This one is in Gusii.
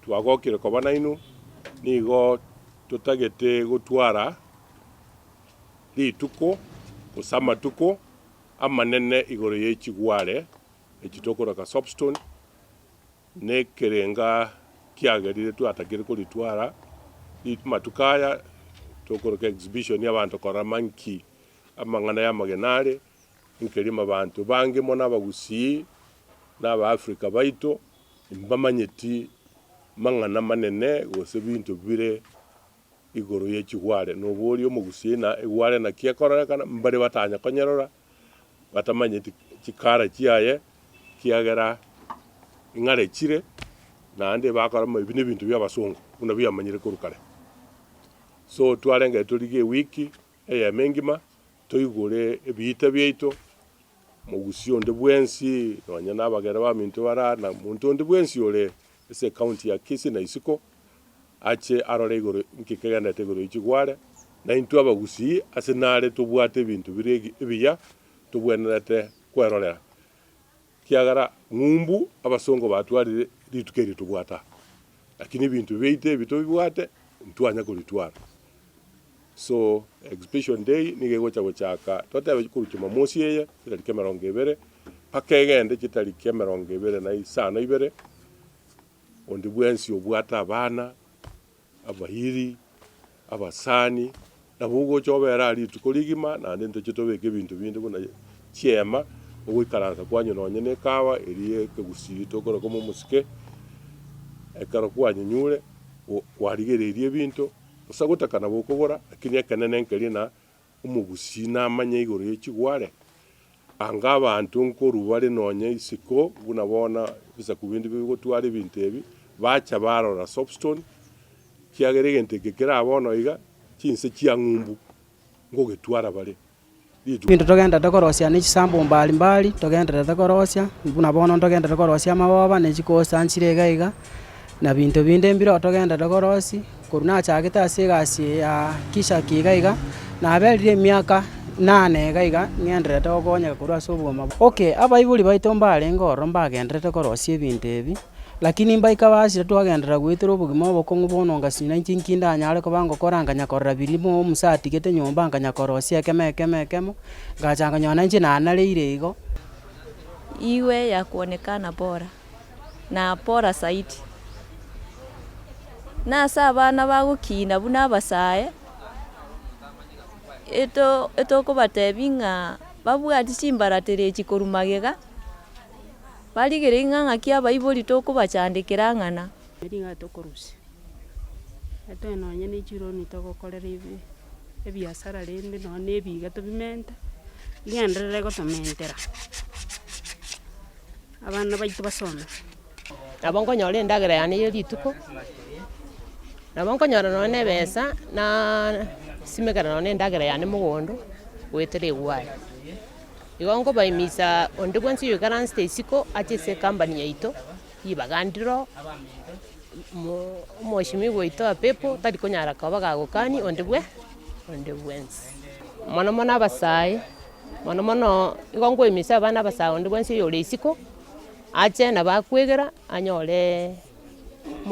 Twagokire koba nainwe, nigo totagete gotwara rituko gose amatuko amanene igoro ye chigware echi tokoraka soapstone, na ekerenga kiagerire twatagire koritwara amatuko aya tokoraka exhibition ya abanto korora ma nki amang'ana y'amagena are, nkerima abanto bange mono abagusii na aba Africa baito. Mbamanyeti mang'ana manene gose binto bire igoro ye chigware, noboria omogusie ng'a egware naki ekororekana, mbare batanya konyerora, batamanyeti chikara chiaye, kiagera ing'are chire, naende bakora ng'a ebi nebinto biabasongo, buna biamanyire korwa kare. So twarenge torigie ewiki. Eyaamo engima toigure ebiita biaito, mogusi onde bwensi, nonya nabagera baminto bare aa, na monto onde bwensi ore ase ecounty ya Kisii na isiko, ache arore igoro inki kegenderete igoro ya chigware, na intwe abagusii ase nare tobwate ebinto bire ebiya tobwenerete kwerorera. Ekiagera ng'umbu abasongo batwarire rituko erio tobwata, lakini ebinto biaito ebi tobibwate ntitwanya koritwara. So expiation day nigo egocha gochaka twateba korwa Jumamosi eye chitariki emerongo ebere mpaka egende chitariki emerongo ebere na isano ibere onde bwensi obwate abana. Abairi, abasani, nabo ogocha obera aa rituko rigima, naende ntoche tobeke ebinto binde buna chiema, ogoikaransa kwanywa nonye ne ekawa eria ye ekegusii tokora koma omosike, ekero kwanyenyure, kwarigereiri ebinto, gose gotaka nabo okogora, lakini ekenene nkeria na Omogusii namanya igoro ye chigware, anga abanto nkoru bare nonya isiko buna bono ebisaku binde bigotwara ebinto ebi, bacha barora soapstone, kiagera egento eke kera bono iga chinse chia ng'umbu ngogetwara bare. Rituko. Ebinto togenderete korosia ne chisambu mbari mbari togenderete korosia, buna bono ntogenderete korosia amagoba ne chikosi anchire iga iga, na binto binde mbiro togenderete korosia, korwa nachakete ase egasi eye ya Kishaki iga iga, naberire emiaka inana iga iga ng'endererete gokonyeka korwa ase obogima bwa. Okay, abaibori baito mbarenge ororo mbagendererete korosia ebinto ebi, lakini mbaika basire twagenderera goetera obogima obokong'u bono ngasinyora inche inki ndanyare koba ngokora nkanya korora birimo omusa atigete nyomba nkanya korosia ekemo ekemo ekemo, ngacha nkanyora nainche nanareire igo. Igwe yakuonekana bora. na Pora Saiti. Nase abana bagokiina buna abasae, etokobatebi ng'a babwati chimbaratera echi korwa magega, barigereiri ng'a ng'aki abaibori tokobachandekera ang'ana. Ring'ana tokorusia, etoe nonye ne chironi togokorera ebi- ebiasara rende nonye ne ebiiga tobimenta, rigenderere gotomentera. Abana baito basome. Nabo nkonyora endagera yane ye rituko, nabo nkonyora nonya na ebesa na simekana nonya na endagera yane mogondo goetera egwai. Igo nkobaimisa onde bwensi oyoikaransete isiko ache ase ecompany yaito, ribaga ndiro, mo- omwoshimiwa oito wa pepo tari konyara koba gagokani onde bwe- onde bwensi. Mono mono abasae. Mono mono nigo nkoemesia abana abasaga onde bwensi oyore isiko, ache nabo akwegera, anyore.